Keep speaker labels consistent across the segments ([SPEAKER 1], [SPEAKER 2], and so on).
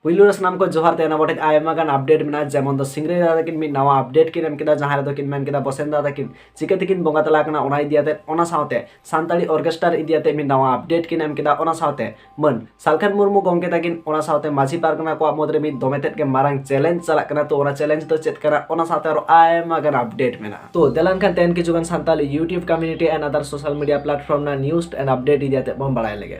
[SPEAKER 1] ᱯᱩᱭᱞᱩ ᱨᱮ ᱥᱟᱱᱟᱢ ᱠᱚ ᱡᱚᱦᱟᱨ ᱛᱟᱦᱮᱱᱟ ᱟᱵᱚ ᱴᱷᱮᱱ ᱟᱭᱢᱟ ᱜᱟᱱ ᱟᱯᱰᱮᱴ ᱢᱮᱱᱟᱜᱼᱟ ᱡᱮᱢᱚᱱ ᱫᱚ ᱥᱤᱝᱨᱟᱹᱭ ᱫᱟᱫᱟ ᱛᱟᱹᱠᱤᱱ ᱢᱤᱫ ᱱᱟᱣᱟ ᱟᱯᱰᱮᱴ ᱠᱤᱱ ᱮᱢ ᱠᱮᱫᱟ ᱡᱟᱦᱟᱸ ᱨᱮᱫᱚ ᱠᱤᱱ ᱢᱮᱱ ᱠᱮᱫᱟ ᱵᱚᱥᱮᱱ ᱫᱟᱫᱟ ᱛᱟᱹᱠᱤᱱ ᱪᱤᱠᱟᱹ ᱛᱮᱠᱤᱱ ᱵᱚᱸᱜᱟ ᱛᱟᱞᱟ ᱠᱟᱱᱟ ᱚᱱᱟ ᱤᱫᱤ ᱟᱛᱮ ᱚᱱᱟ ᱥᱟᱶᱛᱮ ᱥᱟᱱᱛᱟᱲᱤ ᱚᱨᱠᱮᱥᱴᱟᱨ ᱤᱫᱤ ᱟᱛᱮ ᱢᱤᱫ ᱱᱟᱣᱟ ᱟᱯᱰᱮᱴ ᱠᱤᱱ ᱮᱢ ᱠᱮᱫᱟ ᱚᱱᱟ ᱥᱟᱶᱛᱮ ᱢᱟᱹᱱ ᱥᱟᱞᱠᱷᱟᱱ ᱢᱩᱨᱢᱩ ᱜᱚᱢᱠᱮ ᱛᱟᱹᱠᱤᱱ ᱚᱱᱟ ᱥᱟᱶᱛᱮ ᱢᱟᱹᱡᱷᱤ ᱯᱟᱨᱜᱟᱱᱟ ᱠᱚᱣᱟᱜ ᱢᱩᱫᱽ ᱨᱮ ᱢᱤᱫ ᱫᱚᱢᱮ ᱛᱮᱫ ᱜᱮ ᱢᱟᱨᱟᱝ ᱪᱮᱞᱮᱧᱡᱽ ᱪᱟᱞᱟᱜ ᱠᱟᱱᱟ ᱛᱚ ᱚᱱᱟ ᱪᱮᱞᱮᱧᱡᱽ ᱫᱚ ᱪᱮᱫ ᱠᱟᱱᱟ ᱚᱱᱟ ᱥᱟᱶᱛᱮ ᱟᱨᱚ ᱟᱭᱢᱟ ᱜᱟᱱ ᱟᱯᱰᱮᱴ ᱢᱮᱱᱟᱜᱼᱟ ᱛᱚ ᱫᱮᱞᱟᱱ ᱠᱷᱟᱱ ᱛᱮᱦᱮᱧ ᱠᱤᱪᱷᱩ ᱜᱟᱱ Santal YouTube community and other social media platform ᱨᱮᱱᱟᱜ ᱱᱤᱭᱩᱡᱽ ᱮᱱᱰ ᱟᱯᱰᱮᱴ ᱤᱫᱤ ᱟᱛᱮ ᱵᱚᱱ ᱵᱟᱲᱟᱭ ᱞᱮᱜᱮ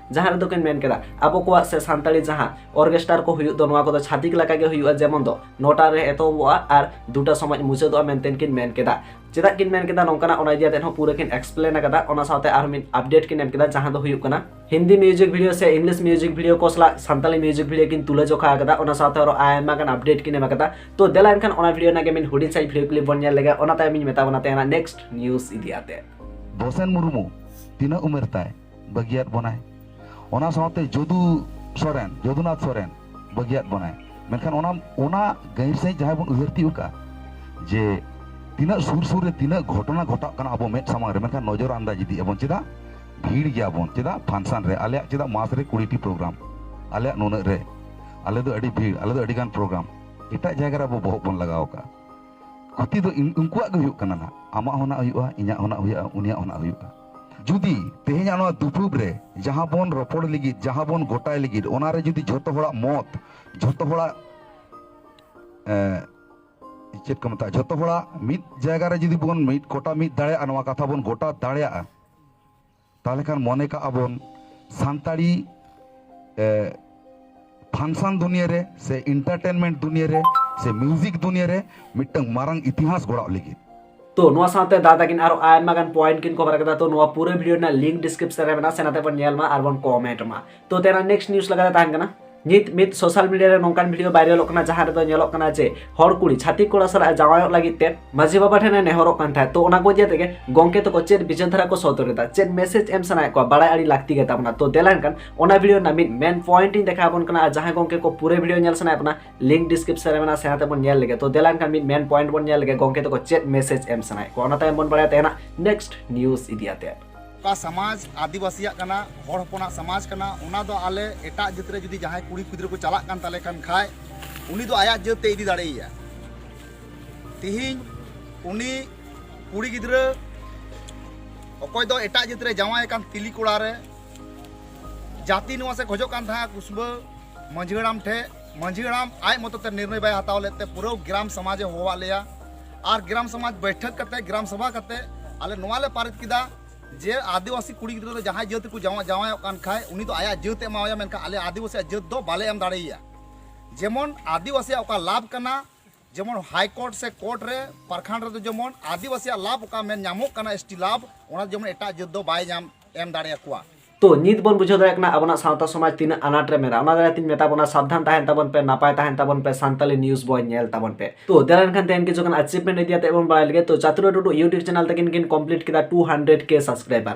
[SPEAKER 1] ᱡᱟᱦᱟᱸ ᱨᱮᱫᱚ ᱠᱤᱱ ᱢᱮᱱ ᱠᱮᱫᱟ ᱟᱵᱚ ᱠᱚᱣᱟᱜ ᱥᱮ ᱥᱟᱱᱛᱟᱲᱤ ᱡᱟᱦᱟᱸ ᱚᱨᱜᱮᱥᱴᱟᱨ ᱠᱚ ᱦᱩᱭᱩᱜ ᱫᱚ ᱱᱚᱣᱟ ᱠᱚᱫᱚ ᱪᱷᱟᱛᱤᱠ ᱞᱮᱠᱟ ᱜᱮ ᱦᱩᱭᱩᱜᱼᱟ ᱡᱮᱢᱚᱱ ᱫᱚ ᱱᱚᱴᱟ ᱨᱮ ᱮᱛᱚᱦᱚᱵᱚᱜᱼᱟ ᱟᱨ ᱫᱩᱴᱟ ᱥᱚᱢᱚᱭ ᱢᱩᱪᱟᱹᱫᱚᱜᱼᱟ ᱢᱮᱱᱛᱮ ᱠᱤᱱ ᱢᱮᱱ ᱠᱮᱫᱟ ᱪᱮᱫᱟᱜ ᱠᱤᱱ ᱢᱮᱱ ᱠᱮᱫᱟ ᱱᱚᱝᱠᱟᱱᱟᱜ ᱚᱱᱟ ᱤᱫᱤ ᱟᱛᱮᱫ ᱦᱚᱸ ᱯᱩᱨᱟᱹ ᱠᱤᱱ ᱮᱠᱥᱯᱞᱮᱱ ᱟᱠᱟᱫᱟ ᱚᱱᱟ ᱥᱟᱶᱛᱮ ᱟᱨ ᱢᱤᱫ ᱟᱯᱰᱮᱴ ᱠᱤᱱ ᱮᱢ ᱠᱮᱫᱟ ᱡᱟᱦᱟᱸ ᱫᱚ ᱦᱩᱭᱩᱜ ᱠᱟᱱᱟ ᱦᱤᱱᱫᱤ ᱢᱤᱭᱩᱡᱤᱠ ᱵᱷᱤᱰᱤᱭᱳ ᱥᱮ ᱤᱝᱞᱤᱥ ᱢᱤᱭᱩᱡᱤᱠ ᱵᱷᱤᱰᱤᱭᱳ ᱠᱚ ᱥᱟᱞᱟᱜ ᱥᱟᱱᱛᱟᱲᱤ ᱢᱤᱭᱩᱡᱤᱠ ᱵᱷᱤᱰᱤᱭᱳ ᱠᱤᱱ ᱛᱩᱞᱟᱹ ᱡᱚᱠᱷᱟ ᱟᱠᱟᱫᱟ ᱚᱱᱟ ᱥᱟᱶᱛᱮ ᱟᱨᱚ ᱟᱭᱢᱟ ᱜᱟᱱ ᱟᱯᱰᱮᱴ ᱠᱤᱱ ᱮᱢ ᱟᱠᱟᱫᱟ ᱛᱚ ᱫᱮᱞᱟ ᱮᱱᱠᱷᱟᱱ ᱚᱱᱟ ᱵᱷᱤᱰᱤᱭᱳ ᱨᱮᱱᱟᱜ ᱜᱮ ᱢᱤᱫ ᱦᱩᱰᱤᱧ ᱥᱟᱺᱦᱤᱡ ᱵᱷᱤᱰᱤᱭᱳ ᱠᱞᱤᱯ ᱵᱚᱱ ᱧᱮᱞ ᱞᱮᱜᱮ ᱚᱱᱟ ᱛᱟᱭᱚᱢ ᱤᱧ ᱢᱮᱛᱟ ᱵᱚᱱᱟ ᱛᱮᱦᱮᱧᱟᱜ ᱱᱮᱠᱥᱴ ᱱᱤᱭᱩᱡ ᱤᱫᱤ ᱟᱛᱮᱫ ᱫᱚᱥᱮᱱ ᱢᱩᱨᱢᱩ
[SPEAKER 2] ᱛᱤᱱᱟᱹᱜ ᱩᱢᱮᱨ ᱛᱟᱭ ᱵᱟᱹᱜᱤᱭᱟᱫ ᱵᱚᱱᱟᱭ ᱚᱱᱟ ᱥᱟᱶᱛᱮ ᱡᱚᱫᱩ ᱥᱚᱨᱮᱱ ᱡᱚᱫᱩᱱᱟᱛᱷ ᱥᱚᱨᱮᱱ ᱵᱟᱹᱜᱤᱭᱟᱫ ᱵᱚᱱᱟᱭ ᱢᱮᱱᱠᱷᱟᱱ ᱚᱱᱟ ᱚᱱᱟ ᱜᱟᱹᱦᱤᱨ ᱥᱟᱺᱦᱤᱡ ᱡᱟᱦᱟᱸᱭ ᱵᱚᱱ ᱩᱭᱦᱟᱹᱨ ᱛᱤᱭᱳᱜ ᱠᱟᱜᱼᱟ ᱡᱮ ᱛᱤᱱᱟᱹᱜ ᱥᱩᱨ ᱥᱩᱨ ᱨᱮ ᱛᱤᱱᱟᱹᱜ ᱜᱷᱚᱴᱚᱱᱟ ᱜᱷᱚᱴᱟᱜ ᱠᱟᱱᱟ ᱟᱵᱚ ᱢᱮᱫ ᱥᱟᱢᱟᱝ ᱨᱮ ᱢᱮᱱᱠᱷᱟᱱ ᱱᱚᱡᱚᱨ ᱟᱱᱫᱟᱡ ᱤᱫᱤ ᱟᱵᱚᱱ ᱪᱮᱫᱟᱜ ᱵᱷᱤᱲ ᱜᱮᱭᱟᱵᱚᱱ ᱪᱮᱫᱟᱜ ᱯᱷᱟᱱᱥᱟᱱ ᱨᱮ ᱟᱞᱮᱭᱟᱜ ᱪᱮᱫᱟᱜ ᱢᱟᱥ ᱨᱮ ᱠᱩᱲᱤᱴᱤ ᱯᱨᱳᱜᱨᱟᱢ ᱟᱞᱮᱭᱟᱜ ᱱᱩᱱᱟᱹᱜ ᱨᱮ ᱟᱞᱮ ᱫᱚ ᱟᱹᱰᱤ ᱵᱷᱤᱲ ᱟᱞᱮ ᱫᱚ ᱟᱹᱰᱤ ᱜᱟᱱ ᱯᱨᱳᱜᱨᱟᱢ ᱮᱴᱟᱜ ᱡᱟᱭᱜᱟ ᱨᱮ ᱟᱵᱚ ᱵᱚᱦᱚᱜ ᱵᱚᱱ ᱞᱟᱜᱟᱣ ᱠᱟᱜᱼᱟ ᱠᱷᱚᱛᱤ ᱫᱚ ᱩᱱᱠᱩᱣᱟᱜ ᱜᱮ ᱦᱩᱭᱩᱜ ᱠᱟᱱᱟ ᱱᱟᱜ ᱟᱢᱟᱜ ᱦᱚᱸ ᱱᱟᱜ ᱦᱩᱭᱩᱜᱼᱟ ᱤᱧᱟᱹᱜ ᱦᱚᱸ ᱱᱟᱜ ᱦᱩᱭᱩᱜᱼᱟ ᱩᱱᱤᱭᱟᱜ ᱦᱚᱸ ᱱᱟᱜ ᱦᱩᱭᱩᱜᱼᱟ ᱡᱩᱫᱤ ᱛᱮᱦᱮᱧᱟᱜ ᱱᱚᱣᱟ ᱫᱩᱯᱩᱵ ᱨᱮ ᱡᱟᱦᱟᱸ ᱵᱚᱱ ᱨᱚᱯᱚᱲ ᱞᱟᱹᱜᱤᱫ ᱡᱟᱦᱟᱸ ᱵᱚᱱ ᱜᱚᱴᱟᱭ ᱞᱟᱹᱜᱤᱫ ᱚᱱᱟ ᱨᱮ ᱡᱩᱫᱤ ᱡᱷᱚᱛᱚ ᱦᱚᱲᱟᱜ ᱢᱚᱛ ᱡᱷᱚᱛᱚ ᱦᱚᱲᱟᱜ ᱪᱮᱫ ᱠᱚ ᱢᱮᱛᱟᱜᱼᱟ ᱡᱷᱚᱛᱚ ᱦᱚᱲᱟᱜ ᱢᱤᱫ ᱡᱟᱭᱜᱟ ᱨᱮ ᱡᱩᱫᱤ ᱵᱚᱱ ᱢᱤᱫ ᱠᱚᱴᱟ ᱢᱤᱫ ᱫᱟᱲᱮᱭᱟᱜᱼᱟ ᱱᱚᱣᱟ ᱠᱟᱛᱷᱟ ᱵᱚᱱ ᱜᱚᱴᱟ ᱫᱟᱲᱮᱭᱟᱜᱼᱟ ᱛᱟᱦᱚᱞᱮ ᱠᱷᱟᱱ ᱢᱚᱱᱮ ᱠᱟᱜᱼᱟ ᱵᱚᱱ ᱥᱟᱱᱛᱟᱲᱤ ᱯᱷᱟᱱᱥᱟᱱ ᱫᱩᱱᱤᱭᱟᱹ ᱨᱮ ᱥᱮ ᱤᱱᱴᱟᱨᱴᱮᱱᱢᱮᱱᱴ ᱫᱩᱱᱤᱭᱟᱹ ᱨᱮ ᱥᱮ ᱢᱤᱭᱩᱡᱤᱠ ᱫᱩᱱᱤᱭᱟᱹ ᱨᱮ ᱢᱤᱫᱴᱟᱝ ᱢᱟᱨᱟᱝ ᱤᱛᱤᱦᱟᱥ ᱜᱚᱲᱟᱣ ᱞᱟᱹᱜᱤᱫ तो ᱱᱚᱣᱟ ᱥᱟᱶᱛᱮ
[SPEAKER 1] ᱫᱟ ᱛᱟᱹᱠᱤᱱ ᱟᱨᱚ ᱟᱭᱢᱟ ᱜᱟᱱ ᱯᱚᱭᱮᱱᱴ ᱠᱤᱱ ᱠᱚᱵᱷᱟᱨ ᱠᱟᱫᱟ ᱛᱚ ᱱᱚᱣᱟ ᱯᱩᱨᱟᱹ ᱵᱷᱤᱰᱤᱭᱳ ᱨᱮᱱᱟᱜ ᱞᱤᱝᱠ ᱰᱤᱥᱠᱨᱤᱯᱥᱚᱱ ᱨᱮ ᱢᱮᱱᱟᱜᱼᱟ ᱥᱮᱱᱟᱛᱮ ᱵᱚᱱ ᱧᱮᱞ ᱢᱟ ᱟᱨ ᱵᱚᱱ ᱠᱚᱢᱮᱱᱴ ᱢᱟ ᱛᱚ ᱛᱮᱱᱟ ᱱᱮᱠᱥᱴ ᱱᱤᱭᱩᱡ ᱞᱮᱠᱟᱛᱮ ᱛᱟᱦᱮᱱ ᱠᱟᱱᱟ ᱱᱤᱛ ᱢᱤᱫ ᱥᱳᱥᱟᱞ ᱢᱤᱰᱤᱭᱟ ᱨᱮ ᱱᱚᱝᱠᱟᱱ ᱵᱷᱤᱰᱤᱭᱳ ᱵᱷᱟᱭᱨᱟᱞᱚᱜ ᱠᱟᱱᱟ ᱡᱟᱦᱟᱸ ᱨᱮᱫᱚ ᱧᱮᱞᱚᱜ ᱠᱟᱱᱟ ᱡᱮ ᱦᱚᱲ ᱠᱩᱲᱤ ᱪᱷᱟᱹᱛᱤᱠ ᱠᱚᱲᱟ ᱥᱟᱞᱟᱜ ᱡᱟᱶᱟᱭᱚᱜ ᱞᱟᱹᱜᱤᱫ ᱛᱮ ᱢᱟᱹᱡᱷᱤ ᱵᱟᱵᱟ ᱴᱷᱮᱱ ᱮ ᱱᱮᱦᱚᱨᱚᱜ ᱠᱟᱱ ᱛᱟᱦᱮᱸᱫ ᱛᱚ ᱚᱱᱟ ᱠᱚ ᱤᱫᱤ ᱛᱮᱜᱮ ᱜᱚᱝᱠᱮ ᱛᱟᱠᱚ ᱪᱮᱫ ᱵᱤᱪᱟᱹᱨ ᱫᱷᱟᱨᱟ ᱠᱚ ᱥᱚᱫᱚᱨ ᱮᱫᱟ ᱪᱮᱫ ᱢᱮᱥᱮᱡᱽ ᱮᱢ ᱥᱟᱱᱟᱭᱮᱫ ᱠᱚᱣᱟ ᱵᱟᱲᱟᱭ ᱟᱹᱰᱤ ᱞᱟᱹᱠᱛᱤ ᱜᱮᱛᱟᱵᱚᱱᱟ ᱛᱚ ᱫᱮᱞᱟ ᱮᱱᱠᱷᱟᱱ ᱚᱱᱟ ᱵᱷᱤᱰᱤᱭᱳ ᱨᱮᱱᱟᱜ ᱢᱤᱫ ᱢᱮᱱ ᱯᱚᱭᱮᱱᱴ ᱤᱧ ᱫᱮᱠᱷᱟᱣ ᱟᱵᱚᱱ ᱠᱟᱱᱟ ᱟᱨ ᱡᱟᱦᱟᱸᱭ ᱜᱚᱝᱠᱮ ᱠᱚ ᱯᱩᱨᱟᱹ ᱵᱷᱤᱰᱤᱭᱳ ᱧᱮᱞ ᱥᱟᱱᱟᱭᱮᱫ ᱵᱚᱱᱟ ᱞᱤᱝᱠ ᱰᱤᱥᱠᱨᱤᱯᱥᱚᱱ ᱨᱮ ᱢᱮᱱᱟᱜᱼᱟ ᱥᱮᱬᱟ ᱛᱮᱵᱚᱱ ᱧᱮᱞ ᱞᱮᱜᱮ ᱛᱚ ᱫᱮᱞᱟ ᱮᱱᱠᱷᱟᱱ ᱢᱤᱫ ᱢᱮᱱ ᱯᱚᱭᱮᱱᱴ ᱵᱚᱱ ᱧᱮᱞ ᱞᱮᱜᱮ ᱜᱚᱝᱠᱮ ᱛᱟᱠᱚ ᱪᱮᱫ ᱢᱮᱥᱮᱡᱽ ᱮᱢ ᱥᱟᱱᱟᱭᱮᱫ ᱠᱚᱣᱟ ᱚᱱᱟ ᱛᱟᱭᱚᱢ ᱵᱚᱱ ᱵᱟᱲᱟᱭᱟ ᱛᱮᱦᱮᱧᱟᱜ ᱱᱮᱠᱥᱴ ᱱᱤᱭᱩᱡᱽ ᱤᱫᱤ ᱟᱛᱮᱫ ᱚᱠᱟ ᱥᱚᱢᱟᱡᱽ
[SPEAKER 3] ᱟᱹᱫᱤᱵᱟᱹᱥᱤᱭᱟᱜ ᱠᱟᱱᱟ ᱦᱚᱲ ᱦᱚᱯᱚᱱᱟᱜ ᱥᱚᱢᱟᱡᱽ ᱠᱟᱱᱟ ᱚᱱᱟ ᱫᱚ ᱟᱞᱮ ᱮᱴᱟᱜ ᱡᱟᱹᱛ ᱨᱮ ᱡᱩᱫᱤ ᱡᱟᱦᱟᱸᱭ ᱠᱩᱲᱤ ᱜᱤᱫᱽᱨᱟᱹ ᱠᱚ ᱪᱟᱞᱟᱜ ᱠᱟᱱ ᱛᱟᱞᱮ ᱠᱟᱱ ᱠᱷᱟᱡ ᱩᱱᱤ ᱫᱚ ᱟᱭᱟᱜ ᱡᱟᱹᱛ ᱛᱮ ᱤᱫᱤ ᱫᱟᱲᱮᱭᱟᱭᱟ ᱛᱤᱦᱤᱧ ᱩᱱᱤ ᱠᱩᱲᱤ ᱜᱤᱫᱽᱨᱟᱹ ᱚᱠᱚᱭ ᱫᱚ ᱮᱴᱟᱜ ᱡᱟᱹᱛ ᱨᱮ ᱡᱟᱶᱟᱭ ᱟᱠᱟᱱ ᱛᱤᱞᱤ ᱠᱚᱲᱟ ᱨᱮ ᱡᱟᱹᱛᱤ ᱱᱚᱣᱟ ᱥᱮ ᱠᱷᱚᱡᱚᱜ ᱠᱟᱱ ᱛᱟᱦᱮᱸ ᱠᱩᱥᱵᱟᱹ ᱢᱟᱹᱡᱷᱤ ᱦᱟᱲᱟᱢ ᱴᱷᱮᱡ ᱢᱟᱹᱡᱷᱤ ᱦᱟᱲᱟᱢ ᱟᱡ ᱢᱚᱛᱚ ᱛᱮ ᱱᱤᱨᱱᱚᱭ ᱵᱟᱭ ᱦᱟᱛᱟᱣ ᱞᱮᱫ ᱛᱮ ᱯᱩᱨᱟᱹ ᱜᱨᱟᱢ ᱥᱚᱢᱟᱡᱽ ᱮ ᱦᱚᱦᱚᱣᱟᱫ ᱞᱮᱭᱟ ᱟᱨ ᱜᱨᱟᱢ ᱥᱚᱢᱟᱡᱽ ᱵᱟᱹᱭᱴᱷᱟᱹᱠ ᱠᱟᱛᱮ ᱜᱨᱟᱢ ᱥᱚᱵᱷᱟ ᱠᱟᱛᱮ ᱟᱞᱮ ᱱᱚᱣᱟ ᱞᱮ ᱯᱟᱨᱤᱛ ᱠᱮᱫᱟ ᱡᱮ ᱟᱹᱫᱤᱵᱟᱹᱥᱤ ᱠᱩᱲᱤ ᱜᱤᱫᱽᱨᱟᱹ ᱫᱚ ᱡᱟᱦᱟᱸᱭ ᱡᱟᱹᱛ ᱠᱚ ᱡᱟᱶᱟᱭ ᱡᱟᱶᱟᱭᱚᱜ ᱠᱟᱱ ᱠᱷᱟᱡ ᱩᱱᱤ ᱫᱚ ᱟᱭᱟᱜ ᱡᱟᱹᱛ ᱮ ᱮᱢᱟᱣᱟᱭᱟ ᱢᱮᱱᱠᱷᱟᱱ ᱟᱞᱮ ᱟᱹᱫᱤᱵᱟᱹᱥᱤᱭᱟᱜ ᱡᱟᱹᱛ ᱫᱚ ᱵᱟᱞᱮ ᱮᱢ ᱫᱟᱲᱮᱭᱟᱭᱟ ᱡᱮᱢᱚᱱ ᱟᱹᱫᱤᱵᱟᱹᱥᱤᱭᱟᱜ ᱚᱠᱟ ᱞᱟᱵᱷ ᱠᱟᱱᱟ ᱡᱮᱢᱚᱱ ᱦᱟᱭ ᱠᱳᱨᱴ ᱥᱮ ᱠᱳᱨᱴ ᱨᱮ ᱯᱟᱨᱠᱷᱟᱱ ᱨᱮᱫᱚ ᱡᱮᱢᱚᱱ ᱟᱹᱫᱤᱵᱟᱹᱥᱤᱭᱟᱜ ᱞᱟᱵᱷ ᱚᱠᱟ ᱢᱮᱱ ᱧᱟᱢᱚᱜ ᱠᱟᱱᱟ ᱮᱥ ᱴᱤ ᱞᱟᱵᱷ ᱚᱱᱟ ᱡᱮᱢᱚᱱ ᱮᱴᱟᱜ ᱡᱟᱹᱛ ᱫᱚ ᱵᱟᱭ ᱧᱟᱢ ᱮᱢ ᱫᱟᱲᱮᱭᱟᱠᱚᱣᱟ ᱛᱚ ᱱᱤᱛ ᱵᱚᱱ ᱵᱩᱡᱷᱟᱹᱣ
[SPEAKER 1] ᱫᱟᱲᱮᱭᱟᱜ ᱠᱟᱱᱟ ᱟᱵᱚᱱᱟᱜ ᱥᱟᱶᱛᱟ ᱥᱚᱢᱟᱡᱽ ᱛᱤᱱᱟᱹᱜ ᱟᱱᱟᱴ ᱨᱮ ᱢᱮᱱᱟᱜᱼᱟ ᱚᱱᱟ ᱫᱟᱨᱟᱭ ᱛᱤᱧ ᱢᱮᱛᱟ ᱵᱚᱱᱟ ᱥᱟᱵᱫᱷᱟᱱ ᱛᱟᱦᱮᱱ ᱛᱟᱵᱚᱱ ᱯᱮ ᱱᱟᱯᱟᱭ ᱛᱟᱦᱮᱱ ᱛᱟᱵᱚᱱ ᱯᱮ ᱥᱟᱱᱛᱟᱞᱤ ᱱᱤᱭᱩᱡ ᱵᱚᱭ ᱧᱮᱞ ᱛᱟᱵᱚᱱ ᱯᱮ ᱛᱚ ᱫᱮᱞᱟ ᱮᱱᱠᱷᱟᱱ ᱛᱮᱦᱮᱧ ᱠᱤᱪᱷᱩ ᱜᱟᱱ ᱟᱪᱤᱵᱷᱢᱮᱱᱴ ᱤᱫᱤ ᱠᱟᱛᱮ ᱵᱚᱱ ᱵᱟᱲᱟᱭ ᱞᱮᱜᱮ ᱛᱚ ᱪᱟᱛᱩᱨᱟ ᱴᱩᱰᱩ ᱤᱭᱩᱴᱤᱭᱩᱵ ᱪᱮᱱᱮᱞ ᱛᱟᱹᱠᱤᱱ ᱠᱤᱱ ᱠᱚᱢᱯᱞᱤᱴ ᱠᱮᱫᱟ 200k ᱥᱟᱵᱥᱠᱨᱟᱭᱵᱟᱨ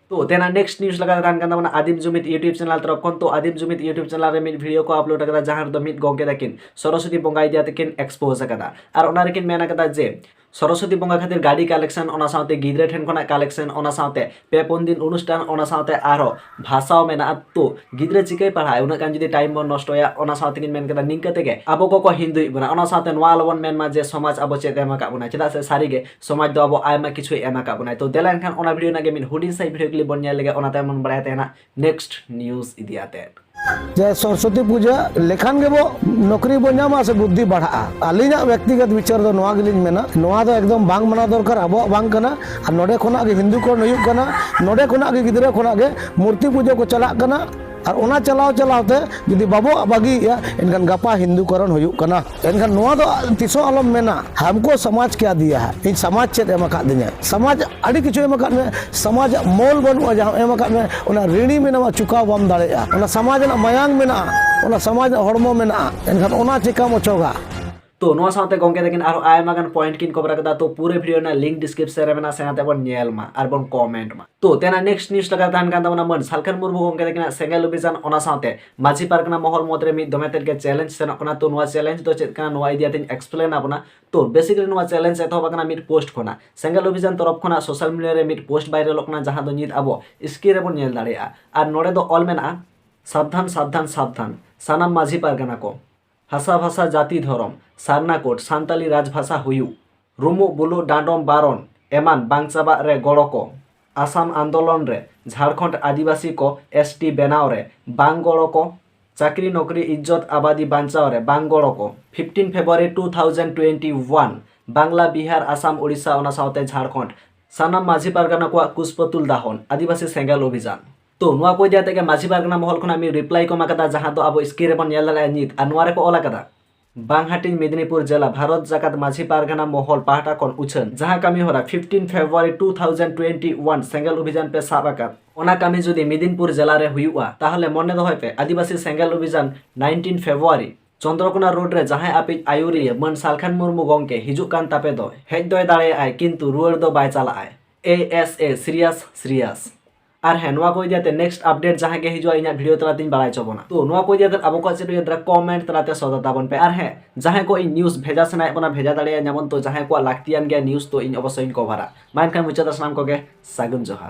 [SPEAKER 1] ᱛᱚ ᱛᱮᱱᱟ ᱱᱮᱠᱥᱴ ᱱᱤᱭᱩᱡ ᱞᱮᱠᱟ ᱛᱟᱦᱮᱱ ᱠᱟᱱ ᱛᱟᱵᱚᱱᱟ ᱟᱫᱤᱢ ᱡᱩᱢᱤᱫ ᱤᱭᱩᱴᱤᱭᱩᱵ ᱪᱮᱱᱮᱞ ᱛᱚᱨᱚᱯ ᱠᱷᱚᱱ ᱛᱚ ᱟᱫᱤᱢ ᱡᱩᱢᱤᱫ ᱤᱭᱩᱴᱤᱭᱩᱵ ᱪᱮᱱᱮᱞ ᱨᱮ ᱢᱤᱫ ᱵᱷᱤᱰᱤᱭᱳ ᱠᱚ ᱟᱯᱞᱳᱰ ᱟᱠᱟᱫᱟ ᱡᱟᱦᱟᱸ ᱨᱮᱫᱚ ᱢᱤᱫ ᱜᱚᱝᱠᱮ ᱛᱟᱹᱠᱤᱱ ᱥᱚᱨᱚᱥᱚᱛᱤ ᱵᱚᱸᱜᱟ ᱤᱫᱤ ᱠᱟᱛᱮ ᱠᱤᱱ ᱮᱠᱥᱯᱳᱡ ᱟᱠᱟᱫᱟ ᱟᱨ ᱚᱱᱟ ᱨᱮᱠᱤᱱ ᱢᱮᱱ ᱟᱠᱟᱫᱟ ᱡᱮ ᱥᱚᱨᱚᱥᱚᱛᱤ ᱵᱚᱸᱜᱟ ᱠᱷᱟᱹᱛᱤᱨ ᱜᱟᱹᱰᱤ ᱠᱟᱞᱮᱠᱥᱚᱱ ᱚᱱᱟ ᱥᱟᱶᱛᱮ ᱜᱤᱫᱽᱨᱟᱹ ᱴᱷᱮᱱ ᱠᱷᱚᱱᱟᱜ ᱠᱟᱞᱮᱠᱥᱚᱱ ᱚᱱᱟ ᱥᱟᱶᱛᱮ ᱯᱮ ᱯᱩᱱ ᱫᱤᱱ ᱚᱱᱩᱥᱴᱷᱟᱱ ᱚᱱᱟ ᱥᱟᱶᱛᱮ ᱟᱨᱦᱚ ᱵᱷᱟᱥᱟᱣ ᱢᱮᱱᱟᱜᱼᱟ ᱛᱚ ᱜᱤᱫᱽᱨᱟᱹ ᱪᱤᱠᱟᱹᱭ ᱯᱟᱲᱦᱟᱜᱼᱟ ᱩᱱᱟᱹᱜ ᱜᱟᱱ ᱡᱩᱫᱤ ᱴᱟᱭᱤᱢ ᱵᱚᱱ ᱱᱚᱥᱴᱚᱭᱟ ᱚᱱᱟ ᱥᱟᱶᱛᱮ ᱠᱤᱱ ᱢᱮᱱ ᱠᱮᱫᱟ ᱱᱤᱝᱠᱟᱹ ᱛᱮᱜᱮ ᱟᱵᱚ ᱠᱚᱠᱚ ᱦᱤᱱᱫᱩᱭᱮᱫ ᱵᱚᱱᱟ ᱚᱱᱟ ᱥᱟᱶᱛᱮ ᱱᱚᱣᱟ ᱟᱞᱚᱵᱚᱱ ᱢᱮᱱ ᱢᱟ ᱡᱮ ᱥᱚᱢᱟᱡᱽ ᱟᱵᱚ ᱪᱮᱫ ᱮ ᱮᱢ ᱟᱠᱟᱫ ᱵᱚᱱᱟ ᱪᱮᱫᱟᱜ ᱥᱮ ᱥᱟᱹᱨᱤᱜᱮ ᱥᱚᱢᱟᱡᱽ ᱫᱚ ᱟᱵᱚ ᱟᱭᱢᱟ ᱠᱤᱪᱷᱩᱭ ᱮᱢ ᱟᱠᱟᱫ ᱵᱚᱱᱟᱭ ᱛᱚ ᱫᱮᱞᱟ ᱮᱱᱠᱷᱟᱱ ᱚᱱᱟ ᱵᱷᱤᱰᱤᱭᱳ ᱨᱮᱱᱟᱜ ᱜᱮ ᱢᱤᱫ ᱦᱩᱰᱤᱧ ᱥᱟᱺᱦᱤᱡ ᱵᱷᱤᱰᱤᱭᱳ ᱠᱞᱤᱯ ᱵᱚᱱ ᱧᱮᱞ ᱞᱮᱜᱮ ᱚᱱᱟ ᱛᱟᱭᱚᱢ ᱵᱚᱱ ᱵᱟᱲᱟᱭ ᱛᱟᱦᱮᱱᱟ ᱱᱮᱠᱥᱴ ᱱᱤᱭᱩᱡᱽ ᱤᱫᱤ ᱟᱛᱮ ᱡᱮ ᱥᱚᱨᱥᱚᱛᱤ
[SPEAKER 4] ᱯᱩᱡᱟᱹ ᱞᱮᱠᱷᱟᱱ ᱜᱮᱵᱚ ᱱᱚᱠᱨᱤ ᱵᱚ ᱧᱟᱢᱟ ᱥᱮ ᱵᱩᱫᱽᱫᱷᱤ ᱵᱟᱲᱦᱟᱜᱼᱟ ᱟᱹᱞᱤᱧᱟᱜ ᱵᱮᱠᱛᱤᱜᱚᱛ ᱵᱤᱪᱟᱹᱨ ᱫᱚ ᱱᱚᱣᱟ ᱜᱮᱞᱤᱧ ᱢᱮᱱᱟ ᱱᱚᱣᱟ ᱫᱚ ᱮᱠᱫᱚᱢ ᱵᱟᱝ ᱢᱟᱱᱟ ᱫᱚᱨᱠᱟᱨ ᱟᱵᱚᱣᱟᱜ ᱵᱟᱝ ᱠᱟᱱᱟ ᱟᱨ ᱱᱚᱰᱮ ᱠᱷᱚᱱᱟᱜ ᱜᱮ ᱦᱤᱱᱫᱩ ᱠᱚᱨᱚᱱ ᱦᱩᱭᱩᱜ ᱠᱟᱱᱟ ᱱᱚᱰᱮ ᱠᱷᱚᱱᱟᱜ ᱜᱮ ᱜᱤᱫᱽᱨᱟᱹ ᱠᱷᱚᱱᱟᱜ ᱜᱮ ᱢᱩᱨᱛᱤ ᱯᱩᱡᱟᱹ ᱠᱚ ᱪᱟᱞᱟᱜ ᱠᱟᱱᱟ ᱟᱨ ᱚᱱᱟ ᱪᱟᱞᱟᱣ ᱪᱟᱞᱟᱣ ᱛᱮ ᱡᱩᱫᱤ ᱵᱟᱵᱚ ᱵᱟᱹᱜᱤᱭᱮᱜᱼᱟ ᱮᱱᱠᱷᱟᱱ ᱜᱟᱯᱟ ᱦᱤᱱᱫᱩᱠᱚᱨᱚᱱ ᱦᱩᱭᱩᱜ ᱠᱟᱱᱟ ᱮᱱᱠᱷᱟᱱ ᱱᱚᱣᱟ ᱫᱚ ᱛᱤᱥᱦᱚᱸ ᱟᱞᱚᱢ ᱢᱮᱱᱟ ᱦᱟᱢᱠᱚ ᱥᱚᱢᱟᱡᱽ ᱠᱮᱭᱟ ᱫᱤᱭᱟ ᱦᱟ ᱤᱧ ᱥᱚᱢᱟᱡᱽ ᱪᱮᱫ ᱮᱢ ᱟᱠᱟᱫ ᱫᱤᱧᱟ ᱥᱚᱢᱟᱡᱽ ᱟᱹᱰᱤ ᱠᱤᱪᱷᱩ ᱮᱢ ᱟᱠᱟᱫ ᱢᱮ ᱥᱚᱢᱟᱡᱽ ᱢᱚᱞ ᱵᱟᱹᱱᱩᱜᱼᱟ ᱡᱟᱦᱟᱸ ᱮᱢ ᱟᱠᱟᱫ ᱢᱮ ᱚᱱᱟ ᱨᱤᱬᱤ ᱢᱮᱱᱟᱢᱟ ᱪᱩᱠᱟᱣ ᱵᱟᱢ ᱫᱟᱲᱮᱭᱟᱜᱼᱟ ᱚᱱᱟ ᱥᱚᱢᱟᱡᱽ ᱨᱮᱱᱟᱜ ᱢᱟᱭᱟᱝ ᱢᱮᱱᱟᱜᱼᱟ ᱚᱱᱟ ᱥᱚᱢᱟᱡᱽ ᱨᱮᱱᱟᱜ ᱦᱚᱲᱢᱚ ᱢᱮᱱᱟᱜᱼᱟ ᱮᱱᱠᱷᱟᱱ ᱚᱱᱟ ᱪᱮᱠᱟᱢ ᱚᱪᱚᱜᱟ ᱛᱚ ᱱᱚᱣᱟ ᱥᱟᱶᱛᱮ
[SPEAKER 1] ᱜᱚᱝᱠᱮ ᱛᱟᱹᱠᱤᱱ ᱟᱨᱦᱚᱸ ᱟᱭᱢᱟ ᱜᱟᱱ ᱯᱚᱭᱮᱱᱴ ᱠᱤᱱ ᱠᱚᱵᱷᱟᱨ ᱟᱠᱟᱫᱟ ᱛᱚ ᱯᱩᱨᱟᱹ ᱵᱷᱤᱰᱤᱭᱳ ᱨᱮᱱᱟᱜ ᱞᱤᱝᱠ ᱰᱤᱥᱠᱨᱤᱯᱥᱚᱱ ᱨᱮ ᱢᱮᱱᱟᱜᱼᱟ ᱥᱮᱱᱟᱛᱮ ᱵᱚᱱ ᱧᱮᱞ ᱢᱟ ᱟᱨ ᱵᱚᱱ ᱠᱚᱢᱮᱱᱴ ᱢᱟ ᱛᱚ ᱛᱮᱱᱟᱜ ᱱᱮᱠᱥᱴ ᱱᱤᱭᱩᱡᱽ ᱞᱮᱠᱟ ᱛᱟᱦᱮᱱ ᱠᱟᱱ ᱛᱟᱵᱚᱱᱟ ᱢᱟᱹᱱ ᱥᱟᱞᱠᱷᱟᱱ ᱢᱩᱨᱢᱩ ᱜᱚᱝᱠᱮ ᱛᱟᱹᱠᱤᱱᱟᱜ ᱥᱮᱸᱜᱮᱞ ᱚᱵᱷᱤᱡᱟᱱ ᱚᱱᱟ ᱥᱟᱶᱛᱮ ᱢᱟᱹᱡᱷᱤ ᱯᱟᱨᱜᱟᱱᱟ ᱢᱚᱦᱚᱞ ᱢᱚᱫᱽ ᱨᱮ ᱢᱤᱫ ᱫᱚᱢᱮ ᱛᱮᱫ ᱜᱮ ᱪᱮᱞᱮᱧᱡᱽ ᱥᱮᱱᱚᱜ ᱠᱟᱱᱟ ᱛᱚ ᱱᱚᱣᱟ ᱪᱮᱞᱮᱧᱡᱽ ᱫᱚ ᱪᱮᱫ ᱠᱟᱱᱟ ᱱᱚᱣᱟ ᱤᱫᱤ ᱟᱛᱮᱧ ᱮᱠᱥᱯᱞᱮᱱ ᱟᱵᱚᱱᱟ ᱛᱚ ᱵᱮᱥᱤᱠᱞᱤ ᱱᱚᱣᱟ ᱪᱮᱞᱮᱧᱡᱽ ᱮᱛᱚᱦᱚᱵ ᱟᱠᱟᱱᱟ ᱢᱤᱫ ᱯᱳᱥᱴ ᱠᱷᱚᱱᱟᱜ ᱥᱮᱸᱜᱮᱞ ᱚᱵᱷᱤᱡᱟᱱ ᱛᱚᱨᱚᱯ ᱠᱷᱚᱱᱟᱜ ᱥᱳᱥᱟᱞ ᱢᱤᱰᱤᱭᱟ ᱨᱮ ᱢᱤᱫ ᱯᱳᱥᱴ ᱵᱷᱟᱭᱨᱟᱞᱚᱜ ᱠᱟᱱᱟ ᱡᱟᱦᱟᱸ ᱫᱚ ᱱᱤᱛ ᱟᱵᱚ ᱥᱠᱨᱤᱱ ᱨᱮᱵᱚᱱ ᱧᱮᱞ ᱫᱟᱲᱮᱭᱟᱜᱼᱟ ᱟᱨ ᱱᱚᱰᱮ ᱫᱚ ᱚᱞ ᱢᱮᱱᱟᱜᱼᱟ ᱥᱟᱵᱫᱷᱟᱱ ᱥᱟᱵᱫᱷᱟᱱ ᱥᱟᱵᱫᱷᱟᱱ ᱥᱟᱱᱟᱢ ᱢᱟᱹᱡᱷᱤ ᱯᱟᱨᱜᱟᱱᱟ ᱠᱚ ᱦᱟᱥᱟ ᱵᱷᱟᱥᱟ ᱡᱟᱹᱛᱤ ᱫᱷᱚᱨᱚᱢ ᱥᱟᱨᱱᱟ ᱠᱳᱰ ᱥᱟᱱᱛᱟᱞᱤ ᱨᱟᱡᱽ ᱵᱷᱟᱥᱟ ᱦᱩᱭᱩᱜ ᱨᱩᱢᱩᱜ ᱵᱩᱞᱩᱜ ᱰᱟᱸᱰᱚᱢ ᱵᱟᱨᱚᱱ ᱮᱢᱟᱱ ᱵᱟᱝ ᱪᱟᱵᱟᱜ ᱨᱮ ᱜᱚᱲᱚ ᱠᱚ ᱟᱥᱟᱢ ᱟᱱᱫᱳᱞᱚᱱ ᱨᱮ ᱡᱷᱟᱲᱠᱷᱚᱸᱰ ᱟᱹᱫᱤᱵᱟᱹᱥᱤ ᱠᱚ ᱮᱥ ᱴᱤ ᱵᱮᱱᱟᱣ ᱨᱮ ᱵᱟᱝ ᱜᱚᱲᱚ ᱠᱚ ᱪᱟᱹᱠᱨᱤ ᱱᱚᱠᱨᱤ ᱤᱡᱽᱡᱚᱛ ᱟᱵᱟᱫᱤ ᱵᱟᱧᱪᱟᱣ ᱨᱮ ᱵᱟᱝ ᱜᱚᱲᱚ ᱠᱚ fifteen February two thousand twenty one Bangla Bihar Assam Odisha ᱚᱱᱟ ᱥᱟᱶᱛᱮ ᱡᱷᱟᱲᱠᱷᱚᱸᱰ ᱥᱟᱱᱟᱢ ᱢᱟᱹᱡᱷᱤ ᱯᱟᱨᱜᱟᱱᱟ ᱠᱚᱣᱟᱜ ᱠᱩᱥᱯᱚᱛᱩᱞ ᱫᱟᱦᱚᱱ ᱟᱹᱫᱤᱵᱟᱹᱥᱤ ᱥᱮᱸᱜᱮᱞ ᱚᱵᱷᱤᱡᱟᱱ ᱛᱚ ᱱᱚᱣᱟ ᱠᱚ ᱤᱫᱤ ᱟᱛᱮ ᱜᱮ ᱢᱟᱹᱡᱷᱤ ᱯᱟᱨᱜᱟᱱᱟ ᱢᱚᱦᱚᱞ ᱠᱷᱚᱱᱟᱜ ᱢᱤᱫ ᱨᱤᱯᱞᱟᱭ ᱠᱚ ᱮᱢ ᱟᱠᱟᱫᱟ ᱡᱟᱦᱟᱸ ᱫᱚ ᱟᱵᱚ ᱥᱠᱨᱤᱱ ᱨᱮᱵᱚᱱ ᱧᱮᱞ ᱫᱟᱲᱮᱭᱟᱜᱼᱟ ᱱᱤᱛ ᱟᱨ ᱱᱚᱣᱟ ᱨᱮᱠᱚ ᱚᱞ ᱟᱠᱟᱫᱟ ᱵᱟᱝ ᱦᱟᱹᱴᱤᱧ ᱢᱮᱫᱤᱱᱤᱯᱩᱨ ᱡᱮᱞᱟ ᱵᱷᱟᱨᱚᱛ ᱡᱟᱠᱟᱛ ᱢᱟᱹᱡᱷᱤ ᱯᱟᱨᱜᱟᱱᱟ ᱢᱚᱦᱚᱞ ᱯᱟᱦᱴᱟ ᱠᱷᱚᱱ ᱩᱪᱷᱟᱹᱱ ᱡᱟᱦᱟᱸ ᱠᱟᱹᱢᱤ ᱦᱚᱨᱟ fifteen February two thousand twenty one Sengel ᱚᱵᱷᱤᱡᱟᱱ ᱯᱮ ᱥᱟᱵ ᱟᱠᱟᱫ ᱚᱱᱟ ᱠᱟᱹᱢᱤ ᱡᱩᱫᱤ ᱢᱮᱫᱤᱱᱯᱩᱨ ᱡᱮᱞᱟ ᱨᱮ ᱦᱩᱭᱩᱜᱼᱟ ᱛᱟᱦᱚᱞᱮ ᱢᱚᱱᱮ ᱫᱚᱦᱚᱭ ᱯᱮ ᱟᱹᱫᱤᱵᱟᱹᱥᱤ ᱥᱮᱸᱜᱮᱞ ᱚᱵᱷᱤᱡᱟᱱ ᱱᱟᱭᱤᱱᱴᱤᱱ ᱯᱷᱮᱵᱽᱨᱩᱣᱟᱨᱤ ᱪᱚᱱᱫᱽᱨᱚᱠᱚᱱᱟ ᱨᱳᱰ ᱨᱮ ᱡᱟᱦᱟᱸᱭ ᱟᱯᱮᱭᱤᱡ ᱟᱹᱭᱩᱨᱤᱭᱟᱹ ᱢᱟᱹᱱ ᱥᱟᱞᱠᱷᱟᱱ ᱢᱩᱨᱢᱩ ᱜᱚᱢᱠᱮ ᱦᱤᱡᱩᱜ ᱠᱟᱱ ᱛᱟᱯᱮ ᱫᱚᱭ ᱦᱮᱡ ᱫᱚᱭ ᱫᱟᱲᱮᱭᱟᱜᱼᱟᱭ ᱠᱤᱱᱛᱩ ᱨᱩᱣᱟᱹᱲ ᱫᱚ ᱵᱟᱭ ᱪᱟᱞᱟᱜᱼᱟᱭ ᱮ ᱮᱥ ᱮ ᱥᱤᱨᱤᱭᱟᱥ ᱥᱤᱨᱤᱭᱟᱥ ᱟᱨ ᱦᱮᱸ ᱱᱚᱣᱟ ᱠᱚ ᱤᱫᱤ ᱠᱟᱛᱮ ᱱᱮᱠᱥᱴ ᱟᱯᱰᱮᱴ ᱡᱟᱦᱟᱸ ᱜᱮ ᱦᱤᱡᱩᱜᱼᱟ ᱤᱧᱟᱹᱜ ᱵᱷᱤᱰᱤᱭᱳ ᱛᱟᱞᱟᱛᱮᱧ ᱵᱟᱲᱟᱭ ᱦᱚᱪᱚ ᱵᱚᱱᱟ ᱛᱚ ᱱᱚᱣᱟ ᱠᱚ ᱤᱫᱤ ᱠᱟᱛᱮ ᱟᱵᱚ ᱠᱚᱣᱟᱜ ᱪᱮᱫ ᱦᱩᱭᱩᱜ ᱛᱟᱵᱚᱱᱟ ᱠᱚᱢᱮᱱᱴ ᱛᱟᱞᱟᱛᱮ ᱥᱚᱫᱚᱨ ᱛᱟᱵᱚᱱ ᱯᱮ ᱟᱨ ᱦᱮᱸ ᱡᱟᱦᱟᱸᱭ ᱠᱚ ᱤᱧ ᱱᱤᱭᱩᱡᱽ ᱵᱷᱮᱡᱟ ᱥᱟᱱᱟᱭᱮᱫ ᱵᱚᱱᱟ ᱵᱷᱮᱡᱟ ᱫᱟᱲᱮᱭᱟᱹᱧᱟᱵᱚᱱ ᱛᱚ ᱡᱟᱦᱟᱸᱭ ᱠᱚᱣᱟᱜ ᱞᱟᱹᱠᱛᱤᱭᱟᱱ ᱜᱮᱭᱟ ᱱᱤᱭᱩᱡᱽ ᱛᱚ ᱤᱧ ᱚᱵᱚᱥᱥᱳᱭᱤᱧ ᱠᱚᱵᱷᱟᱨᱟ ᱢᱟ ᱮᱱᱠᱷᱟᱱ ᱢᱩᱪᱟᱹᱫ ᱥᱟᱱᱟᱢ ᱠᱚᱜᱮ ᱥᱟᱹᱜᱩᱱ ᱡᱚᱦᱟᱨ